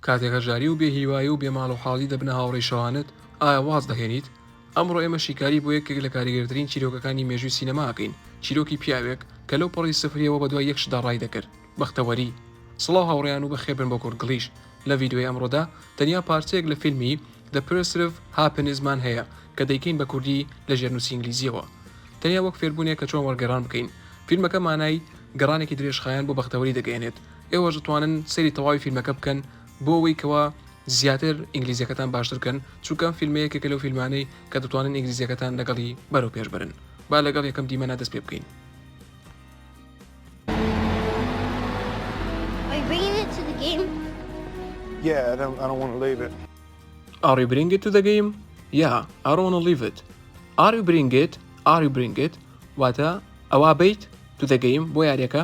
کاتێک هەژاری و بێ هیوایی و بێ ماڵ و حاڵی دەبنە هاوڕێی شەوانت، ئایا واز دەهێنیت؟ ئەمڕۆ ئێمە شیکاری بۆ یەکێک لە کاریگەرترین چیرۆکەکانی مێژووی سینەما ئەکەین، چیرۆکی پیاوێک کە لەو پەڕی سفرییەوە بە دوای یەک شتدا ڕای دەکرد، بەختەوەری. سڵاو هاوڕێیان و بەخێربێن بۆ کورتگڵیش. لە ڤیدیۆی ئەمڕۆدا تەنیا پارچەیەک لە فیلمی، The Pursuit of Happiness، مان هەیە کە دەیکەین بە کوردی لە ژێرنووسی ئینگلیزییەوە. تەنیا وەک فێربوونێک کە چۆن وەرگێڕان بکەین. فیلمەکە مانای گەڕانێکی درێژخایەن بۆ بەختەوەری دەگەیەنێت، ئێوەش دەتوانن سەیری تەواوی فیلمەکە بکەن بۆ ئەوەی کەوا زیاتر ئینگلیزیەکەتان باشترکەن چونکە ئەم فیلمە یەکێکە لەو فیلمانەی کە دەتوانن ئینگلیزیەکەتان لەگەڵی بەرەو پێشبرن با لەگەڵ یەکەم دیمەنا دەست پێ بکەین Yeah, I don't, I don't want to leave it. Are you bringing it to the game? Yeah, I don't want to leave it. Are you bringing it? Are you bringing it? واتە ئەوا بیت to the game بۆ یاریەکە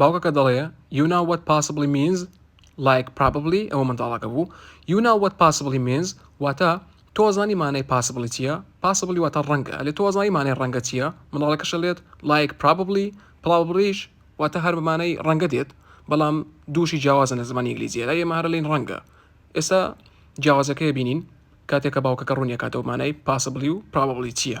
باوکەکە دەڵێ، You know what possibly means؟ Like probably ئەوە منداڵەکە بوو You know what possibly means؟ واتە تۆزانی مانای possibly چییە؟ possibly واتە ڕەنگە ئەلێ تۆزانی مانای ڕەنگە چییە؟ منداڵەکەشە لێت Like probably probablyش واتە هەر بەمانەی ڕەنگە دێت بەڵام دووشی جیاوازە لە زمانی ئینگلیزیە لە ئێمە هەر لین ڕەنگە ئێستا جیاوازەکەی بینین کاتێکە باوکەکە ڕوونیەکاتەوە مانای پاسبلی و پرابلی چییە؟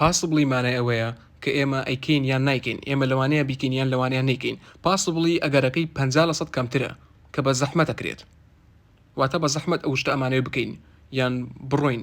Possibly مانای ئەوەیە کە ئێمە ئەیکەین یان نایکەین، ئێمە لەوانەیە بیکەین یان لەوانەیە نەیکەین. Possibly ئەگەرەکەی پەنجا لە سەد کەمترە کە بە زەحمەت ئەکرێت. واتە بە زەحمەت ئەو شتە ئەمانەوێت بکەین یان بڕۆین.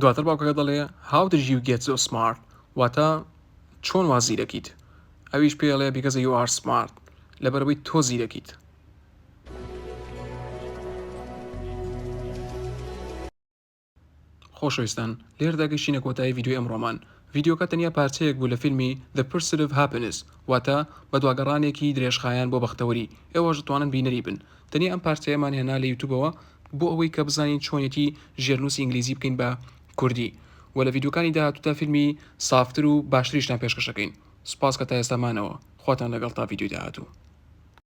دواتر باوکەکە دەڵێ How did you get so smart؟ واتە چۆن وا زیرەکیت؟ ئەویش پێ ئەڵێ Because you are smart لەبەرەوەی تۆ زیرەکیت. خۆشەویستان لێردا گەشتینە کۆتایی ڤیدیۆی ئەمڕۆمان ڤیدیۆکە تەنیا پارچەیەک بوو لە فیلمی The Pursuit of Happiness واتە بە دواگەڕانێکی درێژخایەن بۆ بەختەوەری ئێوەش دەتوانن بینەری بن تەنیا ئەم پارچەیەمان هێنا لە یوتوبەوە بۆ ئەوەی کە بزانین چۆنێتی ژێرنووسی ئینگلیزی بکەین بە کوردی وە لە ڤیدیۆکانی داهاتوودا فیلمی سافتر و باشتریشتان پێشکەشەکەین سوپاس کە تا ئێستا مانەوە خواتان لەگەڵ تا ڤیدیۆی داهاتوو.